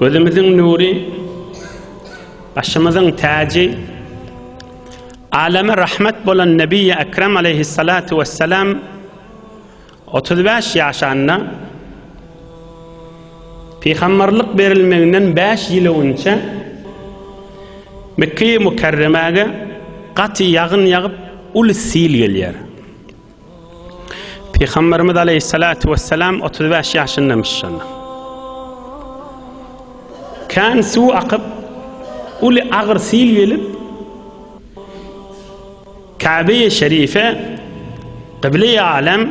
Gözümiziň nury, başymyzyň täji, aleme rahmet bolan Nebi-i Ekrem aleyhissalatu vesselam 35 ýaşanda Pygamberlik berilmeginden 5 ýyl öňçe Mekkeýi Mukerremäge gaty ýagyn ýagyp, uly sil gelýär. Pygamberimiz aleyhissalatu vesselam 35 ýaşyndamyş şonda. Kan su akyp, uly agyr sil gelip, Kabe-i Şerife, Kıble-i Alem,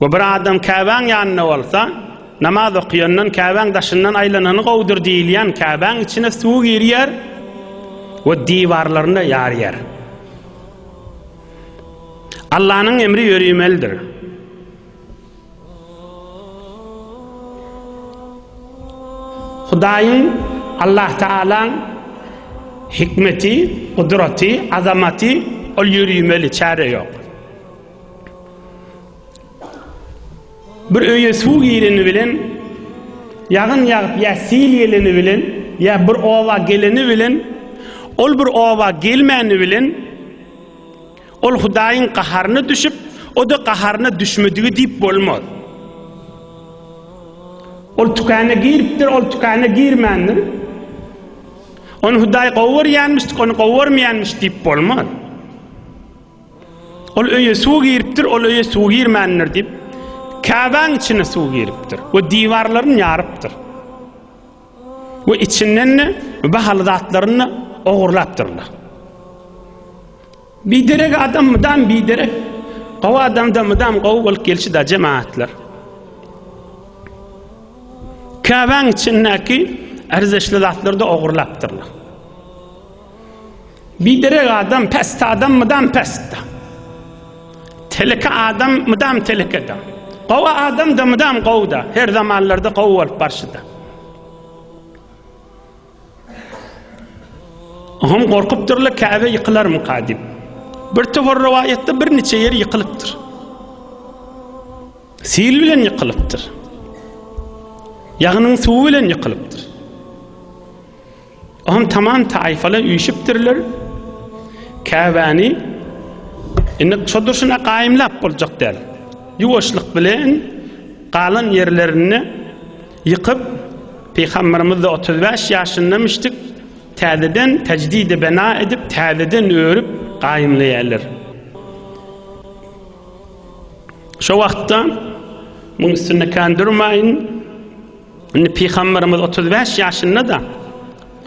We bir adam Käbäň ýanynda bolsa, namaz okaýandan Käbäň daşyndan aýlanany gowudyr diýilýän Käbäň içine suw girýär we diwarlaryna ýarýar. Allanyň emri ýörimelidir. Hudaýyň, Allah Taalaň hikmeti, gudraty, azamaty, ol ýörimeli, çäre ýok. Bir öýe suw gireni bilen, ýagyn ýagyp ýa sil geleni bilen, ýa bir oba geleni bilen, ol bir oba gelmäni bilen, ol Hudaýyň gaharyna düşüp, o-da gaharyna düşmedigi diýip bolmaz. Ol tükana giripdir, ol tükana girmändir. Ony Hudaý gowy görýänmiş, ony gowy görmeýänmiş diýip bolmaz. Ol öýe suw giripdir, ol öýe suw girmändir diýip, Käbäň içine suw giripdir we diwarlaryny ýarypdyr. We içinden bahaly zatlaryny ogurlapdyrlar. Biderek adam mydam biderek, gowy adamdan mydam gowy bolup gelşi da jemaatlar. Käbäň içindäki erzeşli zatlarda ogurlapdyrlar. Biderek adam pest adam mydam pestde. Teleke adam mydam telekede. Gowy adam da mydam gowda. Her zamanlarda gowy bolup barşyda. Hum gorkupdyrlar Käbe ýykylarmy kadip. Bir topar rowaýatda bir niçe ýer ýykylypdyr. Sil bilen ýykylypdyr. Ýagnyň suwy bilen ýykylypdyr. Oňa tamam taýfalar üýşüpdirler. Käbäni indi şo durşuna gaýymlap boljak däl. Ýuwaşlyk bilen galan ýerlerini ýykyp, Pygamberimiz 35 ýaşyndamyşdyk, täzeden tejdidi bena edip, täzeden örüp gaýymlaýarlar. Şo wagtda muň üstünde kän durmaýyn, Indi pygamberimiz 35 ýaşynda-da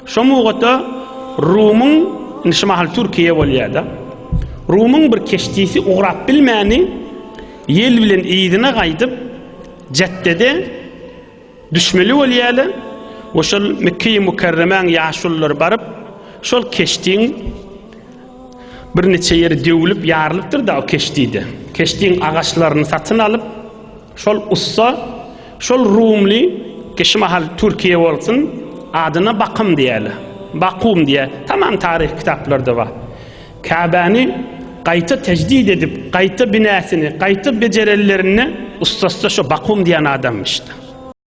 şo mugata Rumyň indi şu mahal Türkiýe bolýar-da. Rumyň bir keşdisi ugrap bilmäni ýel bilen yzyna gaýdyp Jeddede düşmeli bolýarlar we şol Mekkeýi Mukarremäň ýaşulylary baryp şol keşdiň bir neçe ýeri döwülip ýarylypdyr-da o keşdide. Keşdiň agaçlaryny satyn alyp Şol ussa, şol rumly ki şu mahal Türkiýe bolsun, adyna Bakym diýäler. Bakum diýär. Tamam taryh kitaplarda bar. Käbäni gaýta tejdid edip, gaýta binäsini, gaýta bejerenlerinde ussasda şo Bakum diýen adamymyşda.